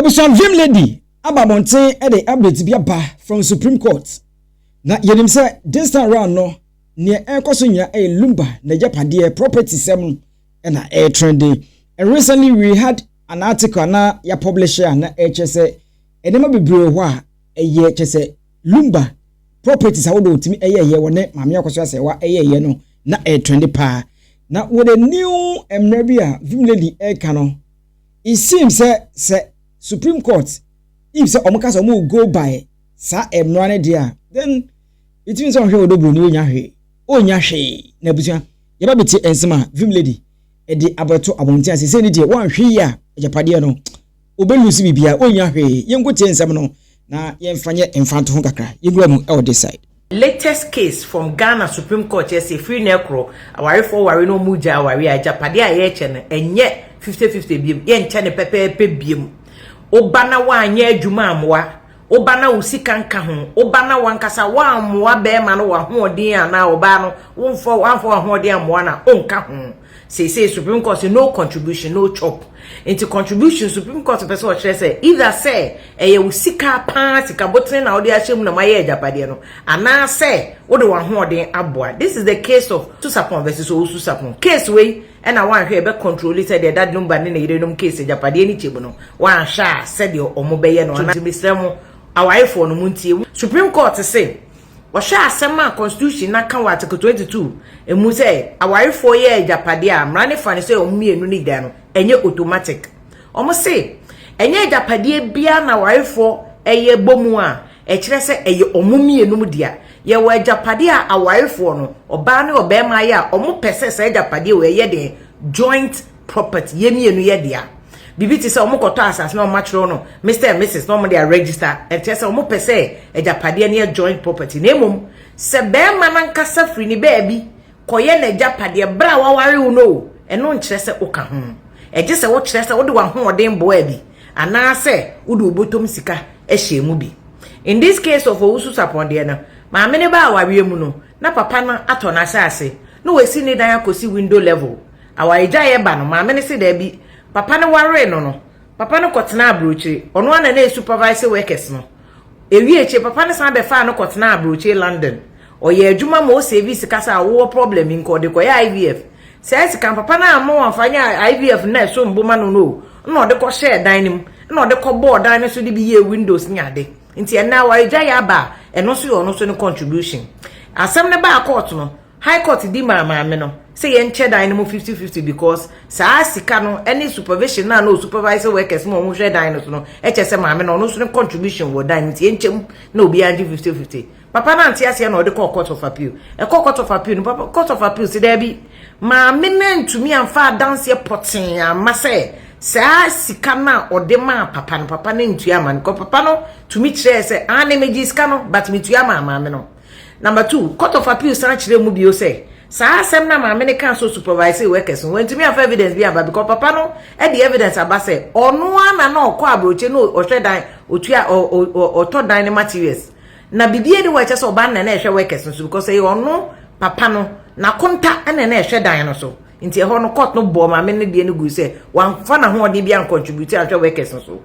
Abusua Vim Lady aba abɔnten de update bi aba from Supreme Court. Na yɛnim sɛ this time round no, neɛ ɛrekɔ so nyina ɛyɛ Lumba nagyapadeɛ property sɛm no na ɛyɛ trending. And recently we had an article anaa yɛ publish a na ɛkyerɛ sɛ nneɛma bebree wɔ hɔ a ɛyɛ kyerɛ sɛ Lumba properties ahodoɔ ɔtumi ɛyɛɛyɛ wɔ ne maame akɔso asɛewa ɛyɛɛyɛ no na ɛyɛ trending paa. Na with a new mmara bi a Vim Lady ɛreka no, it seems sɛ sɛ supreme court if sɛ wɔn ka sɛ wɔn go by saa mmara no deɛ a then it means sɛ wɔn hwɛ wɔ doburo ni wɔnya hwee wɔnya hwee na abusua yɛba bɛti nsɛm a vim lady ɛde abɛto abɔnten ase sɛ ne deɛ wɔn ahwɛ yi a agyapadeɛ no wɔbɛ lose biribiara wɔnya hwee yɛn ko tie nsɛm no na yɛn fa nyɛ mfa nto ho kakra yɛn wura mu ɛwɔ this side. Latest case from Ghana Supreme Court kyerɛ sɛ firi nnɛ korɔ awarefoɔ ware na wɔn gyae awareɛ a agyapadeɛ a yɛrekyɛ no ɛnyɛ fifty fifty biom yɛnkyɛ no pɛpɛɛpɛ biom woba na woanyɛ adwuma ammoa woba na wo sika nka ho woba na wankasa woammoa bɛrima no wɔ ahoɔden anaa ɔbaa no womfa wamfa w'ahoɔden ammoa no a ɔnka ho Seesei Supreme Court se no contribution, no chop. Nti contribution Supreme Court pɛ sɛ ɔkyerɛ sɛ either sɛ ɛyɛ wo sika paa, sika botene na wode ahyɛ mu na moayɛ agyapadeɛ no, anaasɛ wode w'ahoɔden aboa. This is the case of Susapon versus Owusu-Sapon. Case wei na woanhwɛ a ɛbɛ controle sɛdeɛ Dad no ba ne ne yerenom case agyapadeɛ no kyɛ mu no, woanhwɛ a sɛdeɛ wɔbɛyɛ no anaa. Nti mesrɛ mo awarefoɔ no montie. Supreme Court se Wɔhwɛ asɛm a Constitution no aka wɔ Article 22 mu sɛ awarefoɔ yɛ agyapadeɛ a, mmara no fa no sɛ wɔn mmienu no gya no, ɛnyɛ automatic. Wɔse ɛnyɛ agyapadeɛ biara na awarefoɔ yɛ bɔ mu a ɛkyerɛ sɛ ɛyɛ wɔn mmienum dea. Yɛwɔ agyapadeɛ a awarefoɔ no, ɔbaa ne ɔbarima ayɛ a wɔpɛ sɛ saa agyapadeɛ wei yɛ deɛn? Joint property yɛ mmienu yɛ dea biribi te sɛ wɔn kɔtɔ asase na wɔn atwerɛ no mr and mrs na wɔn de aregister ɛnkyɛ sɛ wɔn pɛ sɛ agyapadeɛ no yɛ joint property na mmom sɛ bɛrima nankasa firi ne baabi kɔyɛ n'agyapadeɛ berɛ a waware wo no o ɛno nkyerɛ sɛ woka ho ɛgye sɛ wokyerɛ sɛ wode w'ahoɔden boaa bi anaasɛ wode wo bɔtɔm sika hyɛɛ mu bi in this case of owusu sapɔn deɛ no maame no baa awareɛ mu no na papa no atɔ n'asase na wasi ne dan akɔsi window level Awaregyaeɛ ba no, maame no se daabi. Papa no waree no no, papa no kɔtenaa aburokyire. Ɔno ara na na yɛ supervising workers no. Ɛwie akyire, papa no san bɛfaa no kɔtenaa aburokyire London. Ɔyɛɛ adwuma ma ɔsavii sika sɛ a wowɔ problem bi nka ɔde kɔyɛ IVF. Saa sika no, papa no amma wamfa anyɛ IVF nna ɛsom bo ma no no o, nna ɔde kɔhyɛɛ dan no mu, nna ɔde kɔbɔɔ dan no so de bi yɛɛ windows ne ade. Nti ɛnnɛ awaregyaeɛ aba a, ɛno nso yɛ ɔno nso ne contribution. Asɛm no baa court no, High Court di maa maame no sɛ yɛnkyɛ dan no mu fifty fifty because saa sika no ne supervision no a na ɔsupervise workers ma wɔhwɛ dan no so no kyɛ sɛ maame no ɔno nso ne contribution wɔ dan no nti yɛnkyɛ mu na obiara ngye fifty fifty. Papa no ante aseɛ na ɔde kɔɔ Court of Appeal. Ɛkɔɔ Court of Appeal no, papa Court of Appeal se daabi, maame no antumi amfa adanseɛ pɔtee amma sɛ saa sika no a ɔde maa papa no, papa no antua amma no because papa no tumi kyerɛɛ sɛ aane megyee sika no but metua maa maame no. Number two, Court of Appeal san kyerɛɛ mu bio sɛ saa asɛm no a maame no kaa sɛ ɔsupervisee workers no, wantumi amfa evidence bi amba because papa no de evidence aba sɛ ɔno ara na na ɔkɔ aburokye na ɔhwɛ dan, ɔtua, ɔtɔ dan ne materials. Na biribiara ni hɔ a ɛkyɛ sɛ ɔbaa no na na ɛhwɛ workers no so because ɛyɛ ɔno papa no n'akonta na na ɛhwɛ dan no so. Nti ɛhɔ no court no bɔɔ maame no deɛ no gui sɛ wamfa n'ahoɔden bi ancontribute anhwɛ workers no so.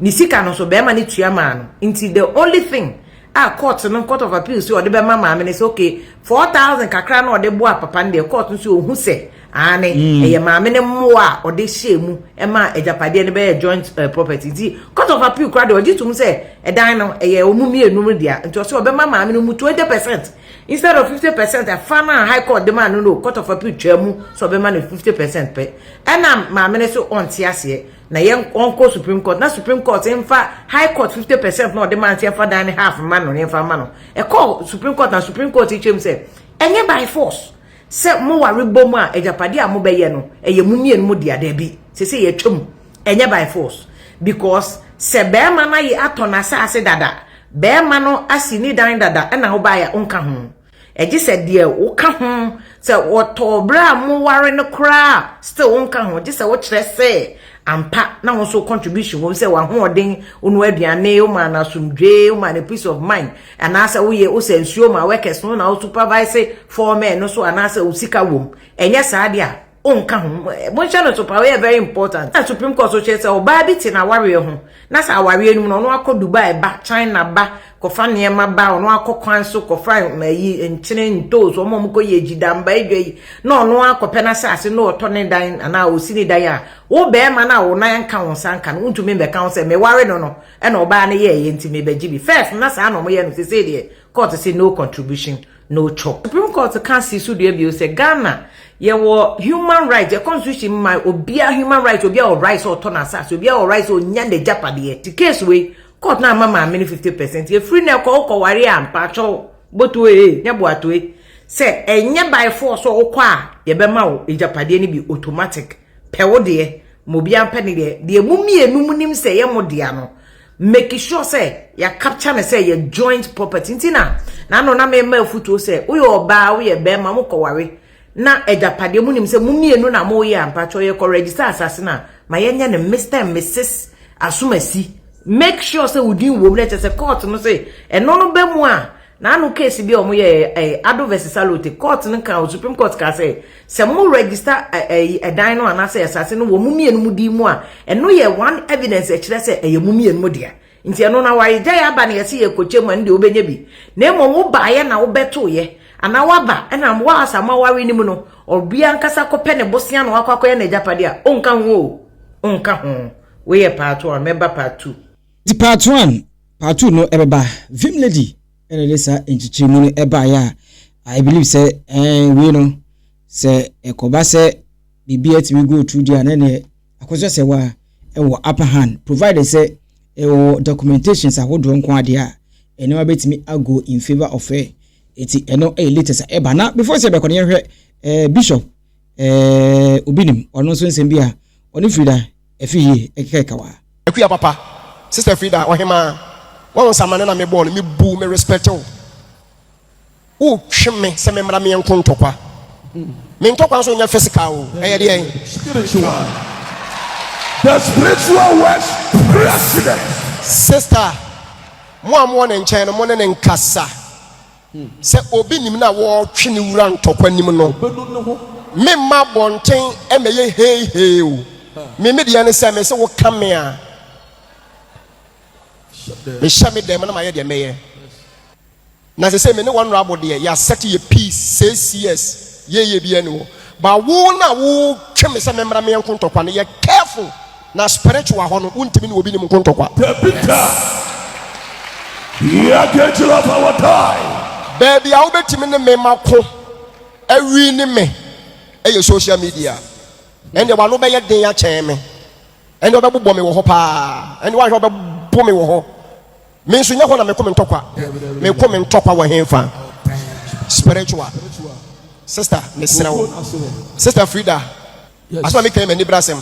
Ne sika no nso bɛrima no tua maa no. Nti the only thing a court no court of appeal sɛ ɔde bɛma maame no sɛ okay four thousand kakra na ɔde boa papa no deɛ court no sɛ ɔhu sɛ aane mm. ɛyɛ maame no mmoa a ɔde hyɛɛ mu ɛma agyapadeɛ no bɛyɛ joint uh, property nti court of appeal kora deɛ ɔgye tom sɛ ɛdan no ɛyɛ ɔmu mmienu no dea nti ɔsɛ ɔbɛma maame no mu twenty percent instead of fifty percent ɛfa no a high court de maa no no court of appeal twaa mu sɛ ɔbɛma no fifty percent pɛ ɛna maame no so ɔnte aseɛ na yɛn ɔnkɔ supreme court na supreme court nfa high court fifty percent na ɔde maa nti ɛfa dan ne half mma no ne nfa ma no ɛkɔ supreme court na supreme court kyerɛ mu sɛ ɛnyɛ by force sɛ mo ware bɔ mu a agyapade a mo bɛyɛ no ɛyɛ mo mmienu mo dea daabi sɛ sɛ yɛatwa mu ɛnyɛ by force because sɛ bɛrima no ayɛ atɔ n'asase dada bɛrima no asi ne dan dada ɛna wobaeɛ a wonka ho Gye sɛ deɛ woka ho sɛ wɔtɔɔ berɛ a moware no koraa still wonka ho gye sɛ wokyerɛ sɛ ampa na wo nso contribution wɔ mu sɛ w'ahoɔden wonua aduane womaa no asomdwee womaa no peace of mind anaasɛ woyɛ wosɛ nsuo ma workers no na wo supervise four men no so anaasɛ wo sika wɔ mu ɛnyɛ saa deɛ a Wonka ho. Monhyɛ no so paa, ɔyɛ very important. Na Supreme Court so kyerɛ sɛ ɔbaa bi te n'awareɛ ho, na sɛ awareɛ no mu no, ɔno akɔ Dubai ba, China ba, kɔfa nneɛma ba, ɔno akɔ kwan so kɔfa ayi nkyene, ntoosi, wɔn a wɔkɔyɛ agyidamba adwa yi, na ɔno akɔpɛ n'asase na ɔtɔ ne dan anaa ɔsi ne dan a, wo barima no a wo nan nka wo nsa nka no, wontumi mmɛka ho sɛ meware no no na ɔbaa no yɛeɛ nti mebɛgye bi. First na saa na wɔyɛ no, seesei deɛ court se no contribution. no twɔ. Supreme Court ka si so dua bio sɛ Ghana yɛwɔ human right, yɛ constitution ma obiara human right, obiara wɔ right sɛ ɔtɔ n'asase, obiara wɔ right sɛ onya n'agyapadeɛ. Nti case wei, court no amma maame no 50 percent. Ɛfiri nnɛ kɔ wokɔware a, mpakyɛw, botoe ee, nyɛ boatoe, sɛ ɛnyɛ by force sɛ wokɔ a, yɛbɛma wo agyapadeɛ no bi automatic. Pɛ wo deɛ, ma obiara mpɛ ne deɛ. Deɛ mo mmienu monim sɛ ɛyɛ mo dea no, make sure sɛ yɛ capture no sɛ yɛ joint property nti na na no na me ma afutuo sɛ woyɛ ɔbaa woyɛ bɛrima mo kɔware na agyapadeɛ mo nim sɛ mo mmienu na mo yɛ ampakyɛ yɛ kɔ register asase na ma yɛnyɛ no Mr and Mrs Asomasi make sure sɛ wodin wom na kyɛ sɛ court no sɛ ɛno no bɛ mu a Na ano case bi a wɔn yɛ ɛɛ Ado vs Salote court no kan o Supreme Court kaa sɛ sɛ mo register ɛɛ ɛdan no anaasɛ asase no wɔ mo mmienu mo din mu a ɛno yɛ one evidence ɛkyerɛ sɛ ɛyɛ mo mmienu mo dea nti ɛno na wɔayɛ gyae aba na yɛsi yɛ kɔkyɛ mu a ɛno deɛ wobɛnya bi na mmom wo baayɛ na wobɛtoyɛ anaa waba ɛna mo a saa mo aware no mu no ɔbia ankasa kɔpɛ ne bosea na wakɔ akɔyɛ n'agyapadeɛ a ɔnka ho o ɔnka ho woyɛ part one mɛba part two. Nti part one, part two no ɛbɛba. Vim lady ɛna ɛde saa nkyekyeremu no ɛbaeɛ a I believe sɛ ɛɛ wei no sɛ ɛkɔba sɛ biribi atumi go through deɛ a na ɛneɛ akɔsɛ sɛ wa ɛwɔ upper hand provided sɛ ɛwɔ documentations ahodoɔ nko adeɛ a ɛnneɛma bɛtumi ago in favour of her. Nti ɛno ɛyɛ latest a ɛba na before sɛ ɛbɛkɔ no yɛhwɛ ɛɛ bishop ɛɛ obi nim ɔno nso nsɛm bi a ɔne firi da Ɛfi yie, ɛkeka ɛka wa. Akua papa, sister Frida ɔhemaa wahu nsamane na mebɔɔ no, mebu me respect wo, wo twe me sɛ memmra meɛ nko ntɔkwa, me ntɔkwa nso nyɛ physical o, ɛyɛ deɛ ɛn. Spiritual, the spiritual works president. Sister, mo a mowɔ ne nkyɛn no mo ne no nkasa, Sɛ obi nim na wɔretwe ne wura ntɔkwa nim no, memma abɔnten mmɛyɛ heihei o. Me me deɛ ne sɛ mese woka me a, mehyɛ me dɛm na mayɛ deɛ mɛyɛ. Na sɛ sɛ me ne wɔn abo deɛ yɛasɛte yɛ peace six years yɛyɛ biara ni hɔ. But wo na wo twe me sɛ me mmra me yɛ nkontɔkwa no yɛ careful na spiritual hɔ no wo ntumi ne obi nim nkontɔkwa. Dabi da we are going to love our die. Baabi a wo bɛ tumi ne me ma ko awi ne me ɛyɛ social media ɛnde wa no bɛ yɛ den akyɛn me ɛnde ɔbɛ bobɔ me wɔ hɔ paa ɛnde wa hwɛ ɔbɛ bo me wɔ hɔ Me nso nyɛ hɔ na meko me ntɔkwa. Meko me ntɔkwa wɔ henfa? Spiritual. Sister, mesrɛ wo. Sister Frida, asɛm a meka yi m'ani bra asɛm.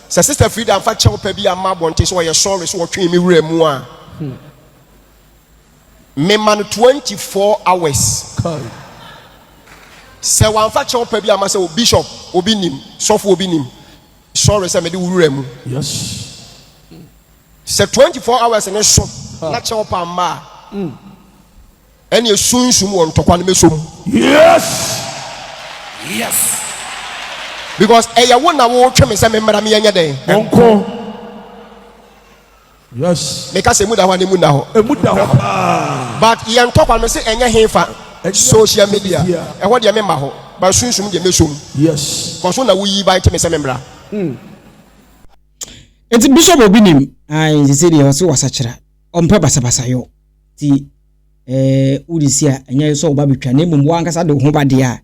Sɛ Sister Frida amfa kyɛw pɛ bi amma abɔnten sɛ ɔyɛ sɔre so wɔtwee me wura mu a, hmm. mema no 24 hours. Sɛ wamfa kyɛw pɛ bi amma sɛ o bishop obi nim, sɔfo obi nim, sɔre sɛ mede wo wura mu. Yes. Sɛ twenty four hours ne so na kyɛw pa mma a, ɛnneɛ sunsum wɔ ntɔkwa no mɛsɔ mu. Yes! Yes! Because ɛyɛ wo na wotwe me sɛ memmra me ɛnyɛ dɛn? Monko. Yes! Meka sɛ emu da hɔ a na emu nna hɔ. Emu da hɔ paa. But yɛn ntɔkwa no se ɛnyɛ he fa social media. Ɛhɔ deɛ memma hɔ. But sunsum deɛ mɛsɔ mu. Yes! Because wo na woyi ban te me sɛ memmra. Mm. Nti bishop obi nim. Ae nti sɛ deɛ ɔse wasakyera ɔmpɛ basabasa yɔ nti eh, wode si a ɛnyɛ sɛ ɔba bɛtwa na mmom wankasa de ho ba deɛ a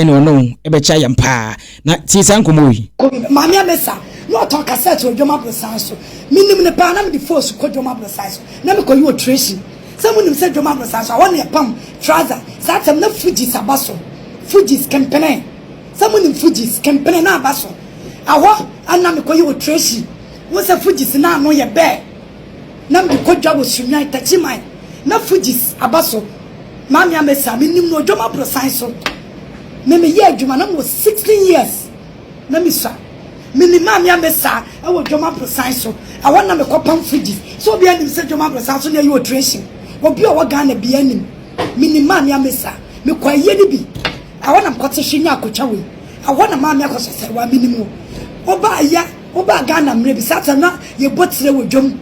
ɛne ɔne wo ɛbɛkyɛ ayɛ mpaa na tie saa nkɔmmɔ yi. Maame Amesa na ɔtɔn kasɛɛt wɔ Dwom Aborosan so. Menim no paa, na mede foosu kɔ Dwom Aborosan so na mekɔyi ɔtresin. Sɛ monim sɛ Dwom Aborosan so a, hɔ na yɛpam trouser, saa tam na Fugees aba so, Fugees, Kempene. Sɛ mo nim Fugees kɛmpene no aba so a hɔ a na me kɔ yi wɔ Tracy wo sɛ Fugees no ano yɛ bɛɛ na me de kɔ dwa wɔ Sunnwan Takyi man na Fugees aba so Maame Amesa a me nim no Odwom aborosan so me me yɛ adwuma na me wɔ 16 years na me sua me nim Maame Amesa a wɔ Odwom aborosan so a hɔ na me kɔ pam Fugees sɛ obi anim sɛ Odwom aborosan so na yi wɔ Tracy obi a ɔwɔ Ghana bia nim me nim Maame Amesa me kɔ ayie no bi. Ɛhɔ na mekɔte hye nyaa kotwa wei. Ɛhɔ na maa me akɔsasare wɔ a menim wo. Wobaa yɛ, wobaa Ghana mmerɛ bi, saa time no na yɛbɔ tire wɔ dwam.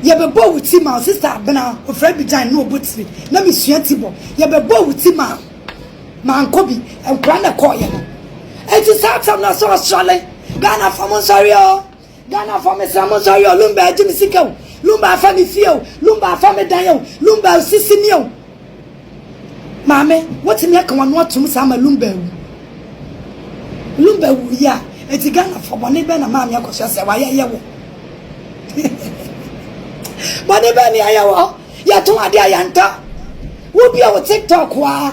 Yɛbɛbɔɔ wo ti maa wo sister Abena, wɔfrɛ no Bijan, na ɔbɔ tire. Na mesua ti bɔ. Yɛbɛbɔɔ wo ti maa wo. Mankɔ bi. Nkwadaa na ɛkɔeɛ no. Enti saa time no na sɛ ɔsɔre, Ghanafoɔ monsɔre o. Ghana foɔ me srɛ mo nsa yɔ lumba agye me sika o lumba afa me fie o lumba afa me dan o lumba osisi me o maame wotumi aka wano atom saa ma lumba awu lumba wu yi a eti Ghana foɔ bɔne bɛn na maame akɔ so asɛ wayɛ yɛ wɔ bɔne bɛn ne ayɛ wɔ yɛto adeɛ a yɛnta wobia wo tiktok a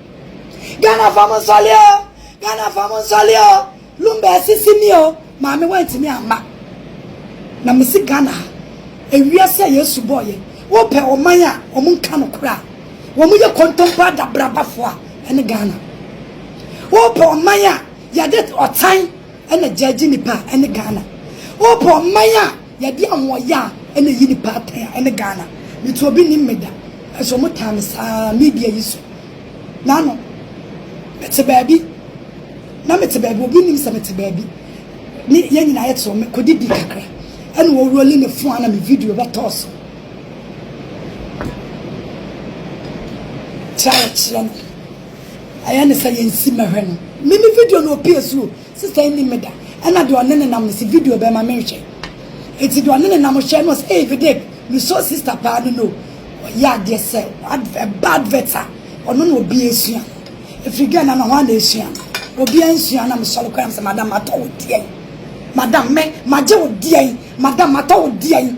Ghana fam nsɔle o, Ghana fam nsɔle o, Lumba asisi me o, maame wantumi amma. Na mese Ghana ha, ewiase a Yesu bɔɔ yɛn, wopɛ ɔman a wɔn nka nokorɛ a, wɔn yɛ kontompo adabrabafoɔ a, ɛne Ghana. Wopɛ ɔman a yɛde ɔtan na gyaagye nnipa a, ɛne Ghana. Wopɛ ɔman a. Yɛde ahoɔyaa na ɛyi nipa atɛn a ɛne Ghana. Me to obi nim me da nanso ɔmo taa me saa media yi so. Nano me te baabi na me te baabi obi nim sɛ me te baabi ne yɛn nyinaa yɛ te me kɔ didi kakra ɛna wɔ rolling me fon ana me video bɛ tɔɔ so. Try kyerɛ no. Ayɛ ne sɛ yɛn si mɛhwɛ no. Me me video no opie suro. Sister yi nim me da, ɛna deɛ ɔne ne nam no se video bɛma me nhwɛ. Enti deɛ ɔne ne nam hwɛɛ no ɔse eii Vidic me sɔ sister paa no no ɔyɛ adeɛ sɛ adv ɛba advert a ɔno na obi ɛsua ɛfiri Ghana na hwan na ɛsua no obia nsua na me sɔre kɔ na me sɛ madam matɔ wo deɛn madam me magye wo deɛn madam matɔ wo deɛn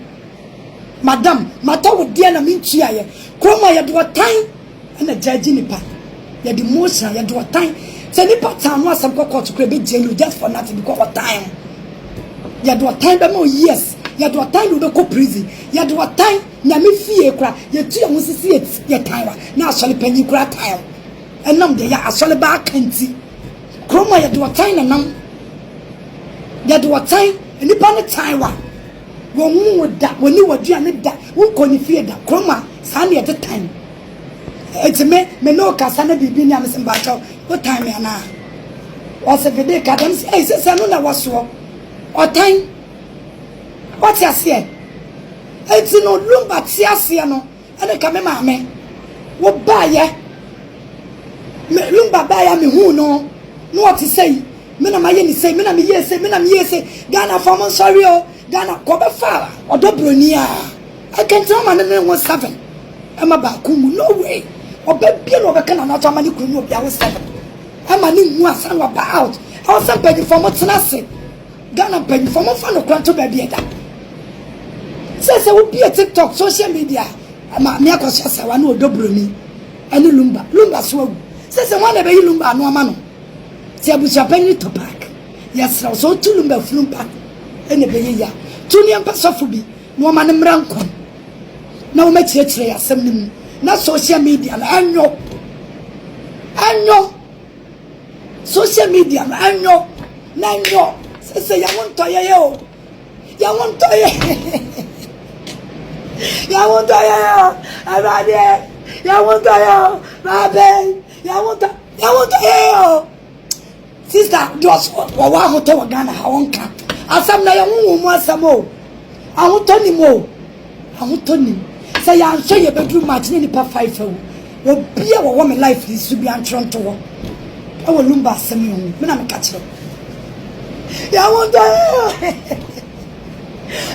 madam matɔ wo deɛn na me ntuaeɛ kurom a yɛde ɔtan Ɛna gyaa gye nipa yɛde motion yɛde ɔtan sɛ nipa tan ho asɛm kɔ court kura bɛ gye no just for nothing because ɔtan ho yɛde ɔtan bɛ ma years yɛde ɔtan na ɔbɛkɔ prison yɛde ɔtan nyame fie kura yɛtu yɛn ho sisi yɛtan wa na asɔre panyin kura tan ho ɛnam deɛ yɛ asɔre ba aka nti kuroma yɛde ɔtan na nam yɛde ɔtan nipa ne tan wa. Wɔnhu wo da, wɔnni w'aduane da, wonkɔ ne fie da, kurom a, saa na yɛte tan. Enti me, me ne wo kasa na biribi nni a, mese mpakyɛ wo, wo tan me anaa? Ɔse Vede ka dɛm, mese ei, sese ɛno na ɛwɔ soɔ, ɔtan. Woate aseɛ? Enti no, Lumba te aseɛ no, Ɛne ka me maame wo baayɛ me lumba baayɛ a me huu no na ɔte sei me na mayɛ ne sei me na me yɛɛ sei me na me yɛɛ sei Ghana fɔ mo nsɔre o Ghana kɔ bɛ fa ɔdɔ broni a ɛkɛntɛn ɔma ne ne ho seven ɛma baako mu no way ɔbɛ bie na ɔbɛ ka na n'ato ama ne kunu mu obi awo seven ɛma ne hu asan wa ba out ɛwɔ sɛ mpanyinfoɔ mo tena ase. Ghana mpanyinfoɔ mo nfa nokora nto baabi ɛda sɛ sɛ wobie tiktok social media maame akɔso asawa ne ɔdɔ buroni ɛne lumba lumba so awu sɛ sɛ wɔn na ɛbɛyi lumba ano ama no sɛ abusuapanyini topak yɛsrɛw sɛ ɔtu lumba funu ba ɛna ɛbɛyɛ ya tu nneɛ mpɛ sɔfo bi na wɔma no mmra nkɔm na wɔn akyerɛkyerɛ yɛ asɛm no mu na social media no ɛnyɔ ɛnyɔ Social media no ɛnyɔ na ɛnyɔ sese yɛn ho ntɔ yɛyɛ o yɛn ho ntɔ yɛ yɛn ho ntɔ yɛ o ɛwuradeɛ yɛn ho ntɔ yɛ o baabe yɛn ho ntɔ yɛn ho ntɔ yɛ o sista deɛ ɔwɔ ahotɔ wɔ Ghana ha ɔnka asɛm na yɛn ho wɔn mu asɛm o ahotɔ ni mu o. Ahotɔ nnim. Sɛ yɛanhwɛ yɛbɛduru March na nnipa five awu. Obi a ɔwɔ me life no nso bi antwerɛ nto hɔ wɔ Lumba asɛm yi ho. Me na meka kyerɛ wo. Yɛahotɔ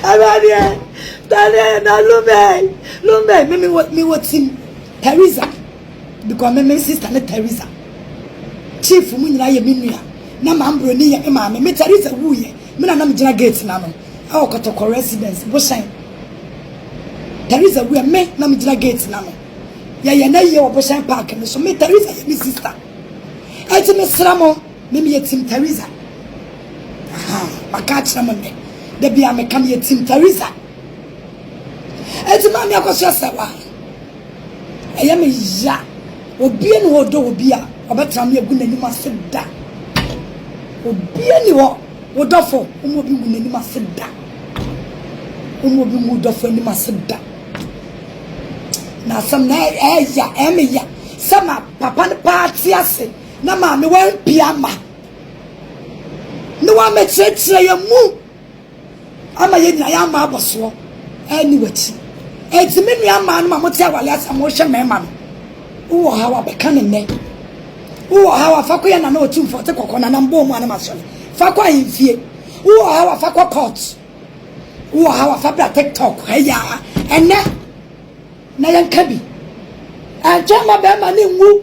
Awurade ɛ, dane na Lumba ɛ, Lumba ɛ. Me mewɔ team Theresa because me me sister ne Theresa. Chief mu nyinaa yɛ me nua na maambroni yɛ me maame. Me Theresa wuiɛ, me na na megyina gate no ano. wɔ Kɔtɔkɔ Residence, Bohyɛn. Theresa wu a, me na megyina gate no ano. Yɛyɛ no ayie wɔ Bohyɛn Park no so. Me, Theresa yɛ me sista. Enti mesrɛ mo, me meyɛ Team Theresa. Aha, maka akyerɛ mo nnɛ. Da biara meka meyɛ Team Theresa. Enti maame akɔ so asɛ wa. Ɛyɛ me ya. Obie ne hɔ ɔdɔ obi a, ɔbɛtra me agu n'anim ase da. Obie ne hɔ. Wo dɔfo mma obi ngu n'anim ase da. Womma obi ngu wo dɔfo anim ase da. Na asɛm na ɛyɛ ɛmeya sɛ ma papa no paa te ase na maame wampia ma ne wamɛkyerɛkyerɛ yɛ mu. Ama yɛn nyinaa yɛammɔ abɔsoɔ anni w'akyi. Enti me nua mmaa nom a mote awale ase a mohwɛ mmarima no, wowɔ ɔhaw a, bɛka no nnɛ. Wowɔ ɔhaw a, fa kɔyɛ Nana Otumfoɔ te kɔkɔ, Nana Mbɔɔ mu a na masɔre. Fa kɔ ahemfie. Wowɔ ɔhaw a, fa kɔ court. Wowɔ ɔhaw a, fa bra TikTok ha yi ara ɛnnɛ na yɛnka bi. Ɛntwɛn ma bɛrima no nwu.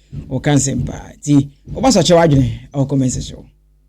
Ɔka nsɛm paa nti ɔba sɔkyɛw adwene ɔkɔ mɛnsɛ so.